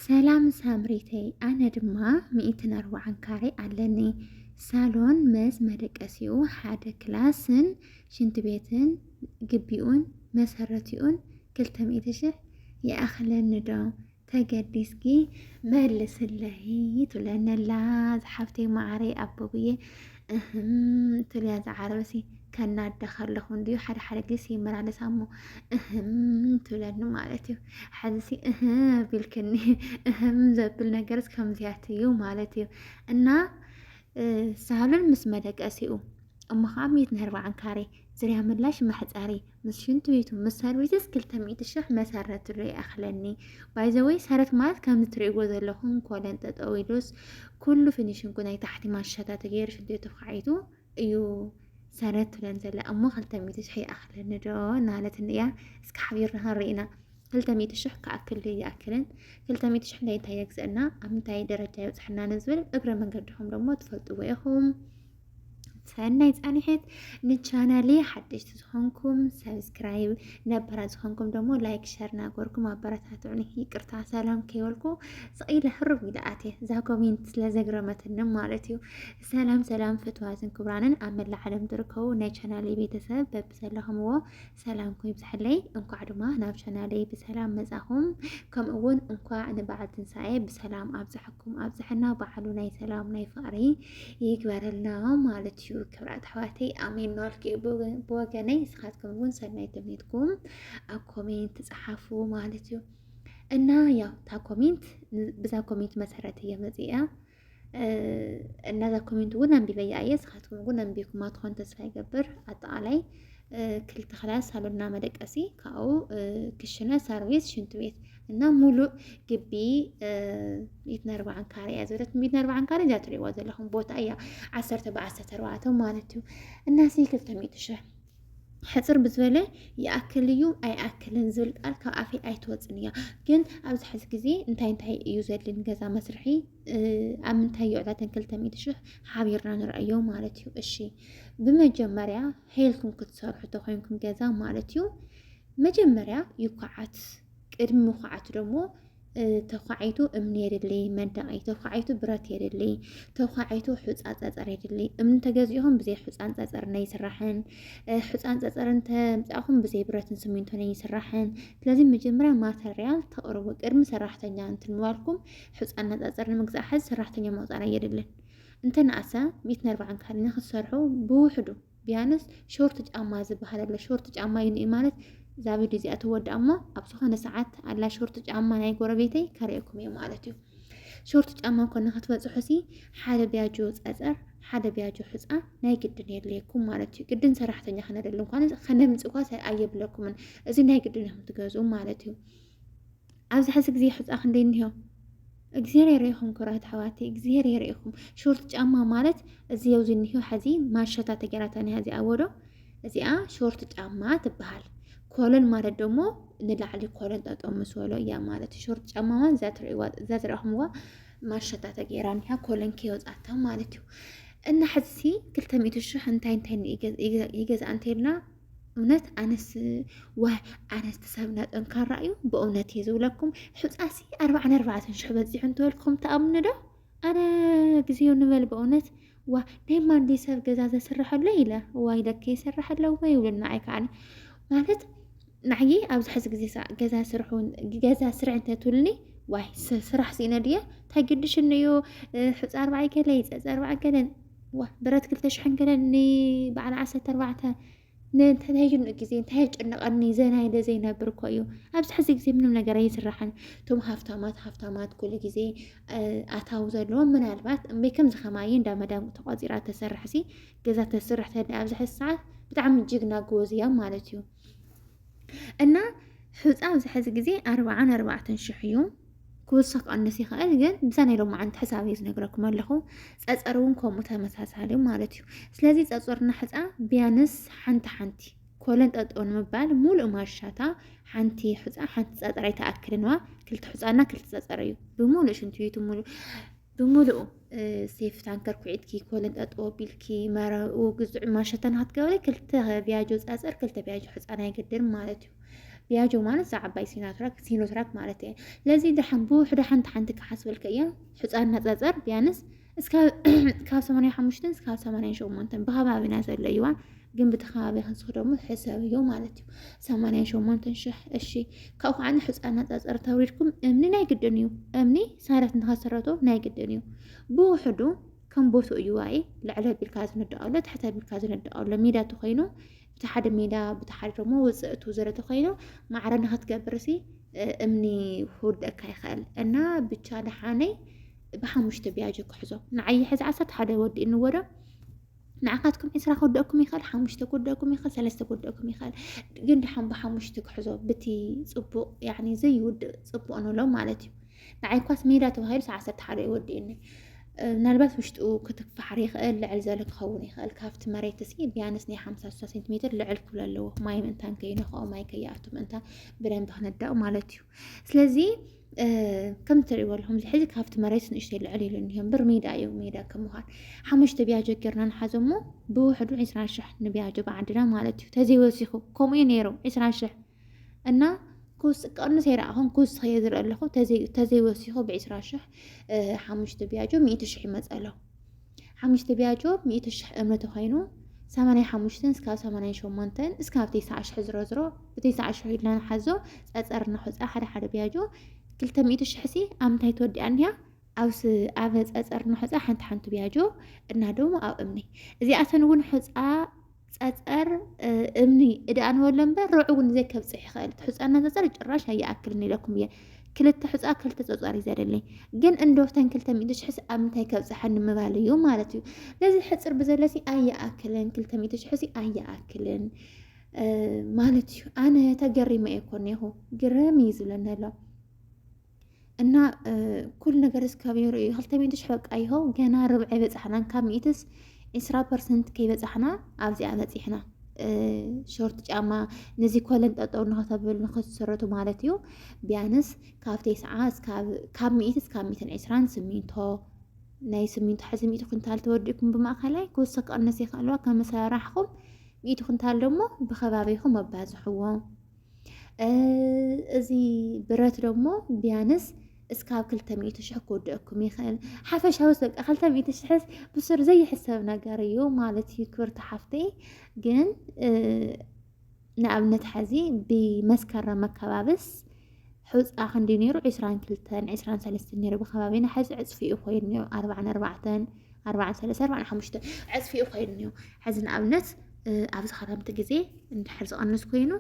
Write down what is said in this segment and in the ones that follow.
ሰላም ሳምሪተይ ኣነ ድማ ሚእትን ኣርባዓን ካሬ ኣለኒ ሳሎን መስ መደቀሲኡ ሓደ ክላስን ሽንቲ ቤትን ግቢኡን መሰረቲኡን ክልተ ሚእቲ ሽሕ ይኣኽለኒ ዶ ተገዲስኪ መልስለይ ትብለነላ ዝሓፍተይ ማዓረይ ኣቦብዬ እህም ትብል እያ ዝዓረበሲ ከናዳ ከለኹ እንድዩ ሓደ ሓደ ግዜ ይመላለስ ኣሞ እህም ትብለኒ ማለት እዩ ሕዚሲ እህ ቢልክኒ እህም ዘብል ነገርስ ከምዚያት እዩ ማለት እዩ እና ሳህሉን ምስ መደቀሲኡ እሞ ከዓ ሚት ንህርባዓን ካሬ ዝርያ ምላሽ መሕፀሪ ምስ ሽንት ቤቱ ምስ ሰርቪስስ ክልተ ሚእቲ ሽሕ መሰረት ዶ ይኣኽለኒ ባይዘወይ ሰረት ማለት ከምዚ ትርእይዎ ዘለኹም ኮለን ጠጠው ኢሉስ ኩሉ ፊኒሽንኩ ናይ ታሕቲ ማሻታ ተገይሩ ሽንት ቤቱ ተኳዒቱ እዩ ሰረት ትብለን ዘላ እሞ ክልተ ሚእቲ ሽሕ ይኣኽለኒ ዶ እናበለትኒ እያ እስኪ ሓቢርና ክንርኢና ክልተ ሚእቲ ሽሕ ክኣክል ዶ ይኣክልን ክልተ ሚእቲ ሽሕ ናይ እንታይ የግዘአና ኣብ ምንታይ ደረጃ ይብፅሐና ንዝብል እግረ መንገድኹም ደግሞ ትፈልጥዎ ኢኹም ሰናይ ፃኒሕት ንቻናሌ ሓደሽቲ ዝኾንኩም ሰብስክራይብ ነበራ ዝኾንኩም ደሞ ላይክ ሸር ናገርኩም ኣበረታትዑኒ ይቅርታ ሰላም ከይበልኩ ስቂለ ሕሩብ ኢለ ኣትየ እዛ ኮሜንት ስለዘግረመትኒ ማለት እዩ ሰላም ሰላም ፍትዋትን ክብራንን ኣብ መላእ ዓለም ትርከቡ ናይ ቻናሌ ቤተሰብ በብዘለኹምዎ ሰላምኩም ይብዛሕለይ እንኳዕ ድማ ናብ ቻናለይ ብሰላም መጻኹም ከምኡ እውን እንኳዕ ንበዓል ትንሳኤ ብሰላም ኣብዛሐኩም ኣብዛሐና በዓሉ ናይ ሰላም ናይ ፍቅሪ ይግበረልና ማለት እዩ ክብራት ኣሕዋተይ ኣሜን ናልኪ ብወገነይ ንስኻትኩም እውን ሰናይ ተምኒትኩም ኣብ ኮሜንት ጸሓፉ ማለት እዩ እና ያው እታ ኮሜንት ብዛ ኮሜንት መሰረት እየ መፅኣ እነዛ ኮሜንት እውን ኣንቢበያ እየ ስኻትኩም እውን ኣንቢብኩማ ትኾን ተስፋ ይገብር ኣጠቃላይ ክልተ ክላስ ሳሎና መደቀሲ ካብኡ ክሽነ ሰርቪስ ሽንት ቤት እና ሙሉእ ግቢ ሚእቲ ኣርባዓን ካሬ እያ ዝበለት ሚእቲ ኣርባዓን ካሬ እዚኣ ትሪእዋ ዘለኹም ቦታ እያ ዓሰርተ ብዓሰርተ ኣርባዕተ ማለት እዩ እና ሲ ክልተ ሚእቲ ሽሕ ሕፅር ብዝበለ ይኣክል እዩ ኣይኣክልን ዝብል ቃል ካብ ኣፈይ ኣይትወፅን እያ ግን ኣብዚ ሕዚ ግዜ እንታይ እንታይ እዩ ዘድሊ ንገዛ መስርሒ ኣብ ምንታይ ይውዕላተን ክልተ ሚእቲ ሽሕ ሓቢርና ንርኣዮ ማለት እዩ እሺ ብመጀመርያ ሄልኩም ክትሰርሑ ተኮይንኩም ገዛ ማለት እዩ መጀመርያ ይኳዓት ቅድሚ ምኳዓት ደግሞ ተኳዒቱ እምኒ የድሊ መንደቂ ተኳዒቱ ብረት የድሊ ተኳዒቱ ሑፃን ፀፀር የድሊ እምኒ ተገዚእኹም ብዘይ ሑፃን ፀፀርን ኣይስራሕን ሑፃን ፀፀርን ተምፃእኹም ብዘይ ብረትን ስሚንቶን ኣይስራሕን ስለዚ መጀመርያ ማተርያል ተቕርቡ ቅድሚ ሰራሕተኛ እንትንዋልኩም ሑፃና ፀፀር ንምግዛእ ሓዚ ሰራሕተኛ መውፃእና የድልን እንተነኣሰ ሚእትን ኣርባዕን ካልኒ ክትሰርሑ ብውሕዱ ቢያንስ ሾርት ጫማ ዝበሃል ኣሎ ሾርት ጫማ እዩ ንኢ ማለት እዛ ቪድዮ እዚኣ ትወድኣ እሞ ኣብ ዝኾነ ሰዓት ኣላ ሾርት ጫማ ናይ ጎረቤተይ ከርእየኩም እየ ማለት እዩ ሾርት ጫማ ኮነ ክትበፅሑ ሲ ሓደ ቢያጆ ፀፀር ሓደ ቢያጆ ሕፃ ናይ ግድን የድልየኩም ማለት እዩ ግድን ሰራሕተኛ ክነደሉ እንኳን ከነምፅ እኳ ኣየብለኩምን እዚ ናይ ግድን እዮም ትገዝኡ ማለት እዩ ኣብዚ ሕዚ ግዜ ሑፃ ክንደይ እኒሆ እግዚኣብሔር የርእኹም ኩራት ኣሕዋት እግዚኣብሔር የርእኹም። ሾርት ጫማ ማለት እዚ ኣብዚ እኒሆ ሕዚ ማሸታ ተገራታ ኒሃ እዚኣ ወዶ እዚኣ ሾርት ጫማ ትበሃል። ኮለን ማለት ደሞ ንላዕሊ ኮለን ጠጠው ምስ በሎ እያ ማለት ሾርት ጫማ ማለት እዛ ትረእኹምዋ ማሸታ ተገይራ ኒሃ ኮለን ከይወፃታ ማለት እዩ። እና ሕዚ ክልተ ሚእቲ ሽሕ እንታይ እንታይ ይገዝኣ እንተይልና እውነት ኣነስ ዋይ ኣነስቲ ሰብና ጠንካራ እዩ ብእውነት እየ ዝብለኩም ሕፃሲ ኣርባዕን ኣርባዕተን ሽሕ በፂሑ እንተበልኩም ተኣምኑ ዶ ኣነ ግዜኡ ንበል በእውነት ዋ ናይ ማንዲ ሰብ ገዛ ዘስርሐሎ ኢለ ዋይ ለከ ይስርሐሎ ወይ ይብሉ ንዓይ ከዓኒ ማለት ንዓየ ኣብዚ ሕዚ ግዜ ገዛ ስርሑ ገዛ ስርሕ እንተትብልኒ ዋይ ስራሕ ስኢነ ድየ እንታይ ግድሽኒ እዩ ሕፃ ኣርባዕይ ገለ ይፀፀ ኣርባዕን ገለን ዋእ ብረት ክልተ ሽሕን ገለን ንበዓል ዓሰርተ ኣርባዕተ ንእንተተይኑ ግዜ እንታይ የጨንቐኒ ዘና ኢለ ዘይነብር እኮ እዩ ኣብዚ ሕዚ ግዜ ምንም ነገር ኣይስራሕን እቶም ሃፍታማት ሃፍታማት ኩሉ ግዜ ኣታዊ ዘለዎም ምናልባት እምበይ ከምዚ ከማየ እንዳ መዳም ተቋፂራ ተሰርሕሲ ገዛ ተስርሕ ተደ ኣብዚ ሕዚ ሰዓት ብጣዕሚ ጅግና ጎበዝ እያ ማለት እዩ እና ሑፃ ኣብዚ ሕዚ ግዜ ኣርባዓን ኣርባዕተን ሽሕ እዩ ክውስኽ ክቐንስ ይኽእል ግን ብዛ ናይ ሎማዓንቲ ሕሳብ እዩ ዝነግረኩም ኣለኹ ፀፀር እውን ከምኡ ተመሳሳሊ ማለት እዩ ስለዚ ፀፀርና ሕፃ ቢያንስ ሓንቲ ሓንቲ ኮለን ጠጦ ንምባል ሙሉእ ማሻታ ሓንቲ ሕፃ ሓንቲ ፀፀር ኣይተኣክልንዋ ክልተ ሕፃና ክልተ ፀፀር እዩ ብሙሉእ ሽንት ቤቱ ሙሉእ ብምሉኡ ሴፍ ታንከር ኩዒትኪ ኮለን ጠጠው ኣቢልኪ መረኡ ግዙዕ ማሸተን ሃትገበሪ ክልተ ቢያጆ ፀፅር ክልተ ቢያጆ ሕፃን ኣይገድርን ማለት እዩ ቢያጆ ማለት እዛ ዓባይ ሲኖትራክ ሲኖትራክ ማለት እየ ለዚ ድሓን ብውሕዶ ሓንቲ ሓንቲ ክሓስበልከ እየ ሕፃን ናፀፀር ቢያንስ ካብ ሰማንያ ሓሙሽተን እስካብ ሰማንያን ሸሞንተን ብከባቢና ዘሎ እዩዋ ግን ብቲ ከባቢ ክንስኽ ደሞ ሕሰብዮ ማለት እዩ ሰማንያን ሸሞንተን ሽሕ እሺ ካብኡ ከዓ ንሕፃ ኣነፃፀር ተውሪድኩም እምኒ ናይ ግድን እዩ እምኒ ሰረት ንኸስረቶ ናይ ግድን እዩ ብውሕዱ ከም ቦቱ እዩ ዋኢ ልዕለ ቢልካ ዝንዳኣሎ ትሕተ ቢልካ ዝንዳኣሎ ሜዳ ተኮይኑ ብቲ ሓደ ሜዳ ብቲ ሓደ ደሞ ውፅእቱ ዘለ ተኮይኑ ማዕረ ንክትገብር ሲ እምኒ ክውደካ ይኽእል እና ብቻ ደሓነይ ብሓሙሽተ ቢያጆ ክሕዞ ንዓይ ሕዚ ዓሰርተ ሓደ ወዲእኒ ወዶ ንዓኻትኩም ዕስራ ክወደኩም ይኽእል ሓሙሽተ ክወደኩም ይኽእል ሰለስተ ክወደኩም ይኽእል ግን ድሓን ብሓሙሽተ ክሕዞ ብቲ ፅቡቅ ያኒ ዘይውድእ ፅቡቅ ንብሎ ማለት እዩ ንዓይ ኳስ ሜዳ ተባሂሉ ሰዓ ዓሰርተ ሓደ ይወዲእኒ ምናልባት ውሽጡ ክትፋሓር ይኽእል ልዕል ዘለ ክኸውን ይኽእል ካብቲ መሬት እስኪ ቢያንስ ናይ ሓምሳ ስሳ ሴንቲሜትር ልዕል ክብሎ ኣለዎ ማይ ምእንታን ከይነኽኦ ማይ ከይኣቱ ምእንታ ብደንብ ክነዳኡ ማለት እዩ ስለዚ ከም እትሪእዎ ኣለኹም እዚ ሕዚ ካብቲ መሬት ንእሽተይ ልዕል ኢሉ እኒሆ እምበር ሜዳ እዩ ሜዳ ከም ምዃን ሓሙሽተ ቢያጆ ጌርና ንሓዞ እሞ ብውሕዱ ዕስራ ሽሕ ንቢያጆ ብዓድና ማለት እዩ ተዘይወሲኹ ከምኡ እዩ ነይሩ ዕስራ ሽሕ እና ኩስ ቀንስ ኣይረኣኹን ኩስ ኸየ ዝርኢ ኣለኹ ተዘይወሲኹ ብዕስራ ሽሕ ሓሙሽተ ቢያጆ ሚእቲ ሽሕ ይመፀሎ ሓሙሽተ ቢያጆ ሚእቲ ሽሕ እምኒ ተኾይኑ ሰማንያ ሓሙሽተን እስካብ ሰማንያ ሸሞንተን እስካብ ተስዓ ሽሕ ዝሮዝሮ ብተስዓ ሽሕ ኢልና ንሓዞ ፀፀር እናኾፀ ሓደ ሓደ ቢያጆ ክልተ ሚእቲ ሽሕሲ ኣብ ምንታይ ተወዲኣ እኒኣ ኣብስ ኣብ ፀፀር ንሑፃ ሓንቲ ሓንቲ ቢያጆ እና ደሞ ኣብ እምኒ እዚኣተን እውን ሑፃ ፀፀር እምኒ እድኣንበሎ እምበር ርዑ እውን ዘይከብፅሕ ይኽእል እቲ ሕፃና ፀፀር ጭራሽ ኣይኣክልን ኢለኩም እየ ክልተ ሕፃ ክልተ ፀፀር እዩ ዘደለይ ግን እንዶፍተን ክልተ ሚእቲ ሽሕስ ኣብ ምንታይ ከብፅሓኒ ምባል እዩ ማለት እዩ ነዚ ሕፅር ብዘለሲ ኣይኣክልን ክልተ ሚእቲ ሽሕሲ ኣይኣክልን ማለት እዩ ኣነ ተገሪመ እየ ኮነ ይኹ ግረም እዩ ዝብለኒ ኣሎ እና ኩሉ ነገር እስካብሄሩ እዩ ክልተ ሚእቲ ሽሕ በቃ ይሆ ገና ርብዒ በፃሕናን ካብ ሚእትስ ዕስራ ፐርሰንት ከይበፃሕና ኣብዚኣ በፂሕና ሾርት ጫማ ነዚ ኮለን ጠጠው ንኸተብል ንኸትሰረቱ ማለት እዩ ቢያንስ ካብ ቴስዓ ካብ ሚእቲ እስካብ ሚእትን ዕስራን ስሚንቶ ናይ ስሚንቶ ሕዚ ሚእቲ ኩንታል ተወዲእኩም ብማእኸላይ ክውስኽ ክቕንስ ይኽእልዋ ከመሰራርሕኹም ሚእቲ ኩንታል ደግሞ ብኸባቢኹም ኣባዝሕዎ እዚ ብረት ደሞ ቢያንስ እስካብ ክልተ ሚእቲ ሽሕ ክወድአኩም ይኽእል ሓፈሻዊ በቃ ክልተ ሚእቲ ሽሕስ ብሱር ዘይሕሰብ ነገር እዩ ማለት እዩ ክብርቲ ሓፍተይ ግን ንኣብነት ሓዚ ብመስከረም ኣከባብስ ሕፃ ክንዲ ነይሩ ዕስራን ክልተን ዕስራን ሰለስተን ነይሩ ብከባቢና ሓዚ ዕፅፊ እዩ ኮይኑ ነይሩ ኣርባዕን ኣርባዕተን ኣርባዓን ሰለስተ ኣርባዓን ሓሙሽተ ዕፅፊኡ ኮይኑ እዩ ሕዚ ንኣብነት ኣብዚ ክረምቲ ግዜ እንድሕር ዝቐንስ ኮይኑ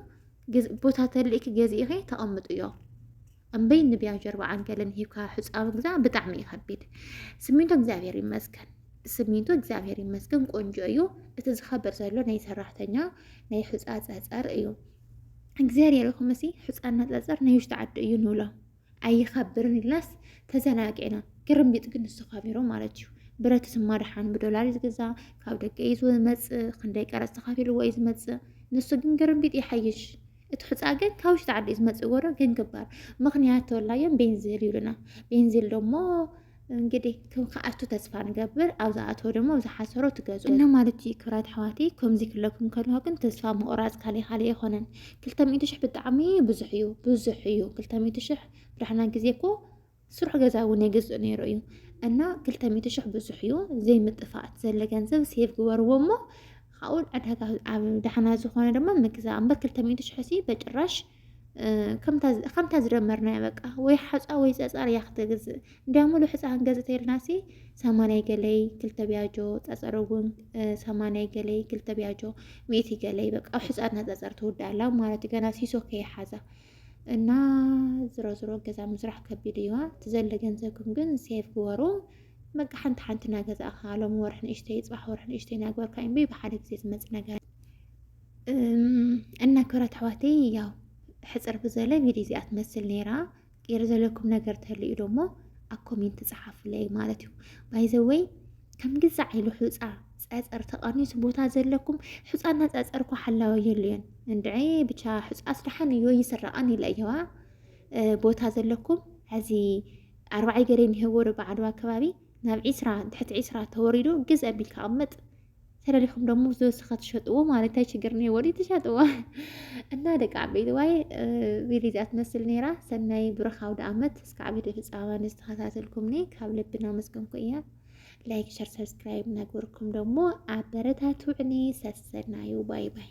ቦታ ተልእኪ ገዚእኺ ተቐምጥዮ እምበይ ንብያ ጀርባ ዓንገለን ሂብካ ሕፃ ምግዛእ ብጣዕሚ እዩ ከቢድ። ስሚንቶ እግዚኣብሔር ይመስገን ስሚንቶ እግዚኣብሔር ይመስገን ቆንጆ እዩ። እቲ ዝኸብር ዘሎ ናይ ሰራሕተኛ ናይ ሕፃ ፀፀር እዩ። እግዚኣብሔር ይኹምሲ ሕፃና ፀፀር ናይ ውሽጢ ዓዲ እዩ ንብሎ ኣይኸብርን ኢልናስ ተዘናጊዕና። ግርምቢጥ ግን ንሱ ከቢሩ ማለት እዩ። ብረት ስማ ደሓን ብዶላር እዩ ዝግዛ፣ ካብ ደገ እዩ ዝመፅእ፣ ክንደይ ቀረፅ ተኸፊልዎ እዩ ዝመፅእ። ንሱ ግን ግርምቢጥ ይሓይሽ። እቲ ሑፃ ግን ካብ ውሽጢ ዓዲ እዩ ዝመፅእ ጎዶ ግን ክባር ምክንያት ተወላዮም ቤንዚል ይብሉና ቤንዚል ደሞ እንግዲህ ክኣቱ ተስፋ ንገብር ኣብ ዝኣተወ ድማ ኣብ ዝሓሰሮ ትገዙ እና ማለት እዩ ክብራት ኣሕዋተይ ከምዚ ክለኩም ከለዋ ግን ተስፋ ምቑራፅ ካልእ ካልእ ኣይኮነን ክልተ ሚእቲ ሽሕ ብጣዕሚ ብዙሕ እዩ ብዙሕ እዩ ክልተ ሚእቲ ሽሕ ብድሕና ግዜ እኮ ስሩሕ ገዛ እውን የገዝእ ነይሩ እዩ እና ክልተ ሚእቲ ሽሕ ብዙሕ እዩ ዘይምጥፋእት ዘለ ገንዘብ ሴቭ ግበርዎ እሞ ካብኡ ዕዳጋ ኣብ ዳሕና ዝኾነ ድማ ምግዛ እምበር ክልተ ሚእቲ ሽሕ ሲ በጭራሽ ከምታ ዝደመርናያ በቃ ወይ ሓፃ ወይ ፀፃር እያ ክትገዝእ እንዲያ ሙሉ ሕፃን ገዝት የልናሲ ሰማንያይ ገለይ ክልተ ቢያጆ ፀፀር እውን ሰማንያይ ገለይ ክልተ ቢያጆ ሚእቲ ገለይ በቃ ኣብ ሕፃና ፀፀር ትውዳላ ማለት እዩ ገና ሲሶ ከይሓዛ እና ዝሮ ዝሮ ገዛ ምስራሕ ከቢድ እዩዋ ትዘለ ገንዘብኩም ግን ሴፍ ግበሩ በቃ ሓንቲ ሓንቲ እናገዛእኻ ሎም ወርሒ ንእሽተይ ፅባሕ ወርሒ ንእሽተይ እናግበርካ እምበይ ብሓደ ግዜ ዝመፅ ነገር እና ክብረት ኣሕዋተይ ያው ሕፅር ብዘለ ቪድዮ እዚኣ ትመስል ነይራ ቅር ዘለኩም ነገር ተልዩ ደሞ ኣብ ኮሜንት ፀሓፉለይ ማለት እዩ ባይዘወይ ከም ግዛ ዓይሉ ሑፃ ፀፀር ተቐኒሱ ቦታ ዘለኩም ሑፃና ፀፀር እኳ ሓላወ የሉየን እንድ ብቻ ሑፃ ስራሓን እዮ ይስረቐን ይለ እየዋ ቦታ ዘለኩም ሕዚ ኣርባዓይ ገሬ ንህወሩ በዓድዋ ከባቢ ናብ ዒስራ ትሕቲ ዒስራ ተወሪዱ ግዝ ኣቢልካ ኣቕምጥ ተለሊኹም ደሞ ዝወሰኸ ትሸጥዎ ማለት እንታይ ችግር እኒሀ ወዲኡ ትሸጥዎ እና ደቂ ዓበይቲ ዋይ ቪድዮ እዚኣ ትመስል ነይራ ሰናይ ብሩኽ ኣውደ ኣመት እስከ ዓበይቲ ፍፃመ ንዝተኸታተልኩምኒ ካብ ልቢ እናመስገንኩ እያ ላይክ ሸር ሰብስክራይብ ነገርኩም ደግሞ ኣበረታቱዕኒ ሰሰናዩ ባይ ባይ